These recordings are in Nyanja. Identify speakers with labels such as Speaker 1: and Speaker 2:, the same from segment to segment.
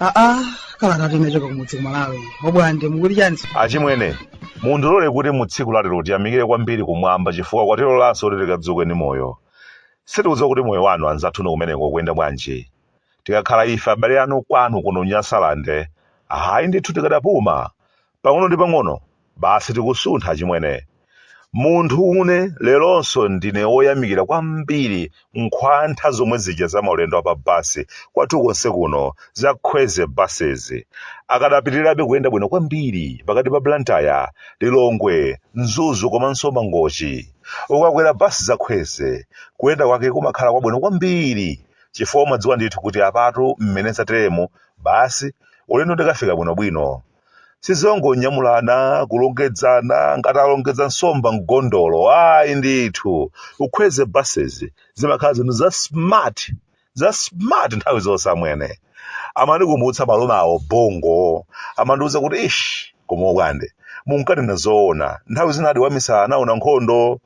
Speaker 1: aa kalata yochoka kumudzi kumalawi obwande mukuti chani
Speaker 2: achimwene mundilole kuti mu tsiku lalero tiyamikire kwambiri kumwamba chifukwa kwatilolanso kuti tikadzuke ndi moyo sitidziwa kuti moyo wanu anzathu inu kumeneko ukuyenda bwanji tikakhala ife abale anu kwanu kuno nyasalande ayi ndithu tikadapuma pang'ono ndi pang'ono basi tikusuntha achimwene munthu une leronso ndine woyamikira kwambiri nkhwatha zomwe zija za maulendo apa basi kwathu konse kuno za kwezy buses zikadapitirirabe kuyenda bwino kwambiri pakati pa blantyre lilongwe mzuzu komanso mangochi ukakwera basi za kwezy kuyenda kwake kumakhala kwabwino kwambiri chifukwa umadziwa ndithu kuti apatu mmene zateremo basi ulendo ndikafika bwinobwino sizongonyamulana kulongedzana ngati alongedza nsomba m'gondolo ayi ndithu ku kwezy buses zimakhala zinthu za smart za smart nthawi zonse amwene amandikumbutsa malume a ubongo amandiuza kuti ish koma obwande munkanena zoona nthawi zina di wamisala anaona nkhondo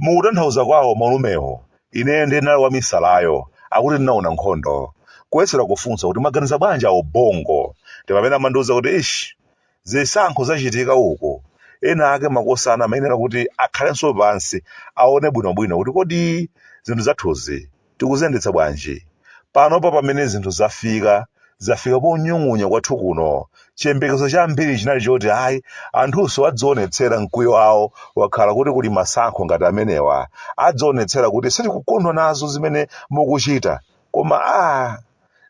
Speaker 2: Potanthauza kwawo malumewo, ineyo ndiye ndinali wamisalayo, akuti ndinaona nkhondo. Kuyesera kufunsa kuti mwaganiza bwanji a Ubongo? Ndi pamene amandiuza kuti, Eish, zisankho zachitika uko, ena ake makosana amayenera kuti akhalenso pansi aone bwinobwino kuti kodi zinthu zathuzi tikuziyendetsa bwanji? Panopa pamene zinthu zafika, zafika ponyung'unya kwathu kuno, chiyembekezo chambiri chinali choti ayi anthunso azionetsera mkwiyo wawo akakhala kuti kuli masankho ngati amenewa, azionetsera kuti sitikukondwa nazo zimene mukuchita, koma ah,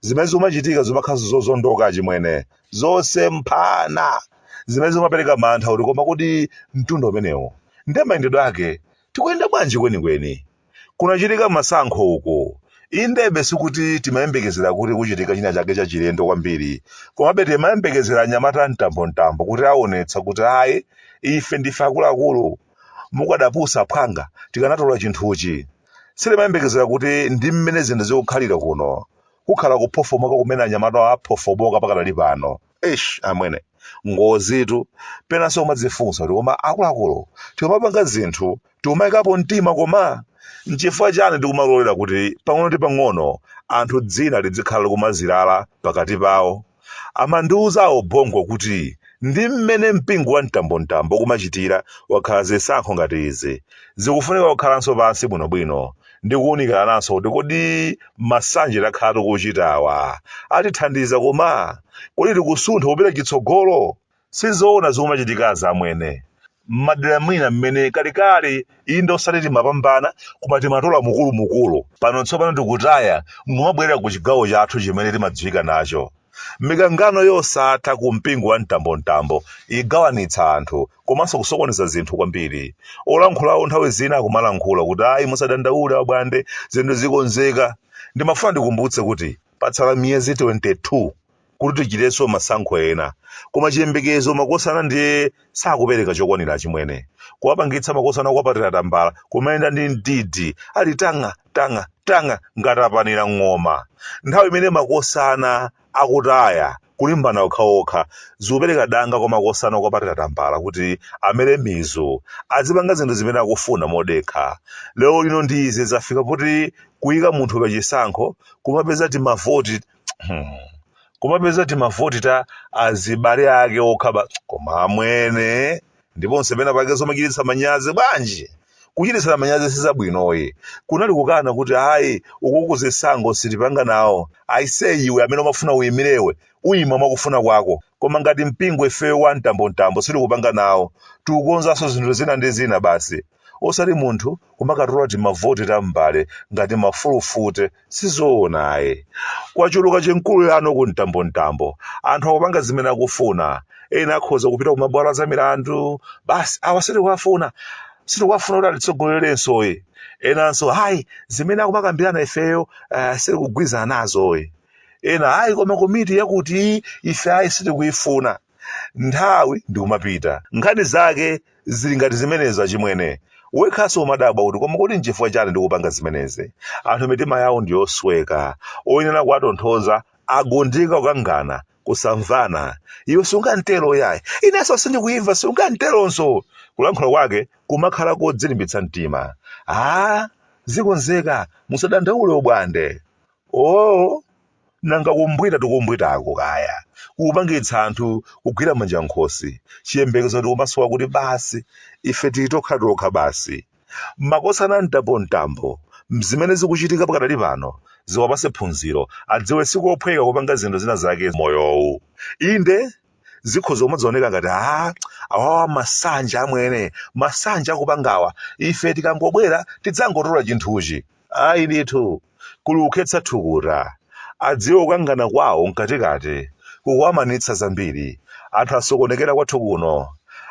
Speaker 2: zimene zikumachitika zimakhalanso zozondoka achimwene, zosemphana, zimene zimapereka mantha kuti koma kodi mtundu umenewu nde mayendedwe ake tikuyenda bwanji kwenikweni? Kunachitika masankho uko. Inde be sikuti timayembekezera kuti kuchitika china chake chachilendo kwambiri, komabe timayembekezera anyamata a mtambontambo kuti aonetsa kuti ayi, ife ndife akuluakulu. Mukadapusa phwanga, tikanatola chinthuchi. Sitimayembekezera kuti ndi mmene zinthu zikukhalira kuno. kukhala kuphofomoka kumene anyamatawa aphofomoka pakadali pano. eish amwene ngozitu penanso kumadzifunsa kuti koma akuluakulu tikumapanga zinthu tikumayikapo mtima koma nchifukwa chani tikumalolera kuti pang'ono ndi pang'ono anthu dzina lizikhala likumazilala pakati pawo amandiuza a ubongo kuti ndi mmene mpingo wa mtambontambo ukumachitira akakhala zisankho ngati izi zikufunika kukhalanso pansi bwinobwino ndi kuunikirananso kuti kodi masanje takhala tikuchitawa atithandiza koma kodi tikusuntha kupita chitsogolo sizoona zikumachitikazi amwene mmadera mwina mmene kalekale inde osati timapambana koma timatola mukulumukulu pano tsopano tikutaya nkumabwerera ku chigawo chathu chimene timadziwika nacho Mikangano yosatha ku mpingo wa mtambomtambo igawanitsa anthu komanso kusokoneza zinthu kwambiri. Olankhulawo nthawi zina akumalankhula kuti ayi musadandaule abwande, zinthu zikonzeka. Ndimafuna ndikumbutse kuti patsala miyezi 22 kuti tichitenso masankho ena. Koma chiyembekezo makosana ndiye sakupereka chokwanira achimwene kuwapangitsa makosana akwa atiratambala kumayenda ndi mdidi ali tang'a tang'a tang'a ngati apanira ng'oma nthawi imene makosana akutaya kulimbana okhaokha zikupereka danga kwa makosana akwa atiratambala kuti amere mizu azipanga zinthu zimene akufuna modekha lero lino ndi izi zafika poti kuyika munthu pa chisankho kumapeza timavoti kumapeza timavoti ta azibale ake okha ba koma amwene ndiponso pena pake zomachititsa manyazi bwanji kuchititsana manyazi sizabwinoyi kunali kukana kuti ayi ukuku zisankho sitipanga nawo aise iwe amene umafuna uyimirewe uyima mwakufuna kwako koma ngati mpingo ifeyo wa mtambomtambo sitikupanga nawo tikukonzanso zinthu zina ndi zina basi osati munthu kumakatola timavoti ta m'mbale ngati mafulufute sizoona ayi kwachuluka chinkulirano ku mtambomtambo anthu akupanga zimene akufuna ena akhoza kupita kumabwalo a zamilandu basi awa sitikuwafuna sitikuwafuna kuti atitsogolerensoyi enanso hayi zimene akumakambirana ifeyo uh, sitikugwirizana nazoyi ena hayi koma komiti yakuti ife ayi sitikuyifuna nthawi ndikumapita. Nkhani zake zili ngati zimenezo achimwene. Wekhaso umadabwa kuti koma kuti nchifukwa chani ndikupanga zimenezi? Anthu mitima yawo ndiyosweka. Oyenera kuwatonthoza agundika kukangana, kusamvana. Iwe sungamtero yayi. Ineso sindikuimva sungamteronso! Kulankhula kwake kumakhala kodzilimbitsa mtima. Aaa! Zikonzeka, musadandaule abwande. Ooo! nanga kumbwita tikumbwitako kaya kupangitsa anthu kugwira manja nkhosi chiyembekezo tikumasowa kuti basi ife titokhatokha basi makosana a mtambomtambo zimene zikuchitika pakadali pano ziwapase phunziro adziwe sikophweka kupanga zinthu zina zake moyowu inde zikhoza kumadzaoneka ngati a awawa masanje amwene masanje akupangawa ife tikangobwera tidzangotola chinthuchi Ayi ndithu, kuli kukhetsa thukuta. Adziwe kukangana kwawo mkatikati kukuwamanitsa zambiri. Anthu asokonekera kwathu kuno.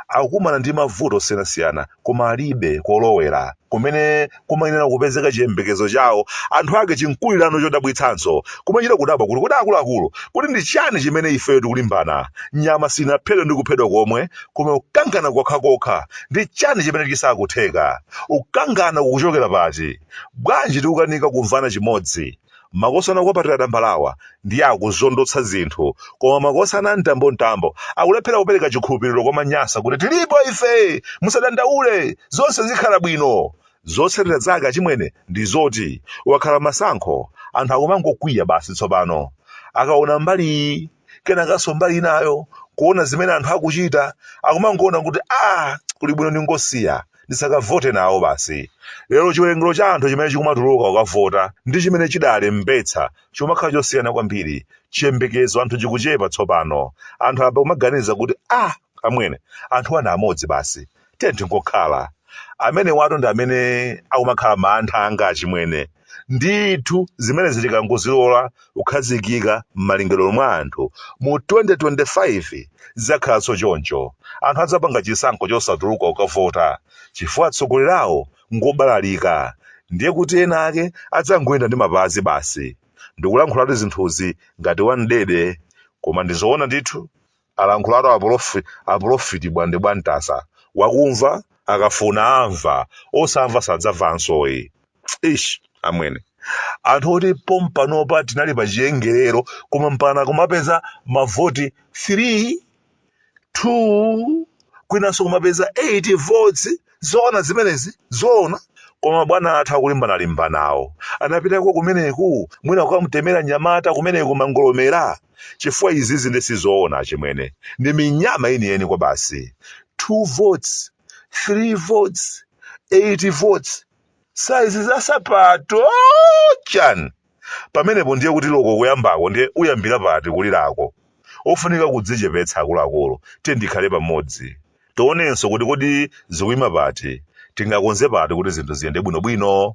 Speaker 2: Akukumana ndi mavuto osiyanasiyana koma alibe kolowera kumene kumayenera kupezeka chiyembekezo chawo. Anthu ake chinkulirano chodabwitsanso. Kumachita kudabwa kuti kodi akuluakulu, kuti ndi chani chimene ifeyo tikulimbana? Nyama sinaphedwe ndi kuphedwa komwe koma kukangana kokhakokha ndi chani chimene chisakutheka kukangana kukuchokera pati bwanji tikukanika kumvana chimodzi makosana kuwapatira tambalawa ndiye akuzondotsa zinthu koma makosana a mtambontambo akulephera kupereka chikhulupiriro kwa Manyasa kuti tilipo ife musadandaule zonse zikhala bwino zotsatira zake achimwene ndi zoti akakhala masankho anthu akumangokwiya basi tsopano akaona mbali iyi kenakanso mbali inayo kuona zimene anthu akuchita akumangoona kuti a kuli bwino ndingosiya ndisakavote nawo basi lero chiwerengero cha anthu chimene chikumatuluka kukavota ndi chimene chidalembetsa chikumakhala chosiyana kwambiri chiyembekezo cha anthu chikuchepa tsopano anthu apa kumaganiza kuti a amwene anthu awa ndi amodzi basi tiye tingokhala amene wato ndi amene akumakhala mantha anga achimwene ndithu zimene tikangozilola kukhazikika m'malingaliro mwa anthu mu 2025 zidzakhalanso choncho anthu adzapanga chisankho chosatuluka kukavota chifukwa atsogoleri awo ngobalalika ndiye kuti ena ake adzangoyenda ndi mapazi basi ndikulankhulatu zinthuzi ngati wamdede koma ndizoona ndithu alankhulatu aprofi aprofiti bwande bwantasa wakumva akafuna amva osamva sadzamvansoyi ish amwene anthu oti pompanopa tinali pa chiwerengero koma mpaka kumapeza mavoti 3 2 kwinanso kumapeza 8 votes Zoona zimenezi? Zoona. Koma mabwana athu akulimbanalimbanawo anapitako kumeneku mwina kukamutemera nyamata kumeneku mangolomera? Chifukwa izizi nde sizoona achimwene. Ndi minyama yeniyeni kwabasi. 2 votes, 3 votes, 8 votes. Size za sapato! Chani! pamenepo ndiye kuti loko kuyambako ndiye uyambira pati kulirako ofunika kudzichepetsa akuluakulu tiyeni tikhale pamodzi tionenso kuti kodi zikuyima pati tingakonze pati kuti zinthu ziyende bwinobwino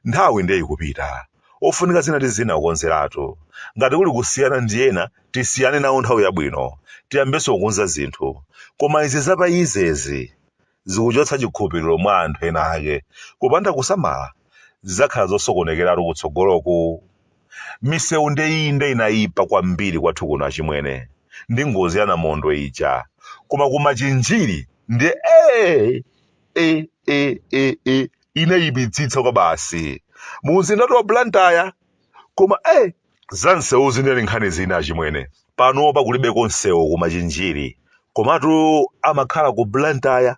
Speaker 2: nthawi ndiye ikupita ofunika zina ndi zina kukonzeratu ngati kuli kusiyana ndi ena tisiyane nawo nthawi yabwino tiyambenso kukonza zinthu koma izi zapazizi zikuchotsa chikhulupiriro mwa anthu ena ake, kupanda kusamala, zidzakhala zosokonekeratu kutsogoloku. Misewu nde inde inayipa kwambiri kwathu kuno achimwene, ndi ngozi ya Namondwe ija, koma ku Machinjiri ndiye aaaa inayipitsitsa kwabasi, mu mzindatu wa Blantyre koma eh! za msewu zinali nkhani zina achimwene panopa kulibeko msewu ku machinjiri komatu amakhala ku blantyre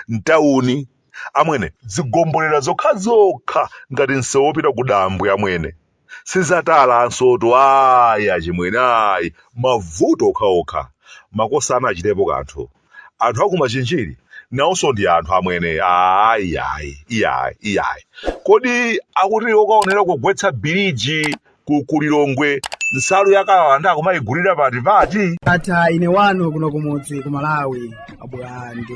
Speaker 2: mtawuni amwene zigombolera zokhazokha ngati msewu wopita ku dambwe amwene sizatalansotu ayi achimwene ayi mavuto okhaokha makosa anachitepo kanthu anthu akumachinjiri nawonso ndi anthu amwene ayi ayi iyayi iyayi kodi akuti okaonera kugwetsa biliji ku kulilongwe nsalu yakalawanda akumayigulira pati pati ata ine wanu
Speaker 1: kuno kumudzi ku malawi abwande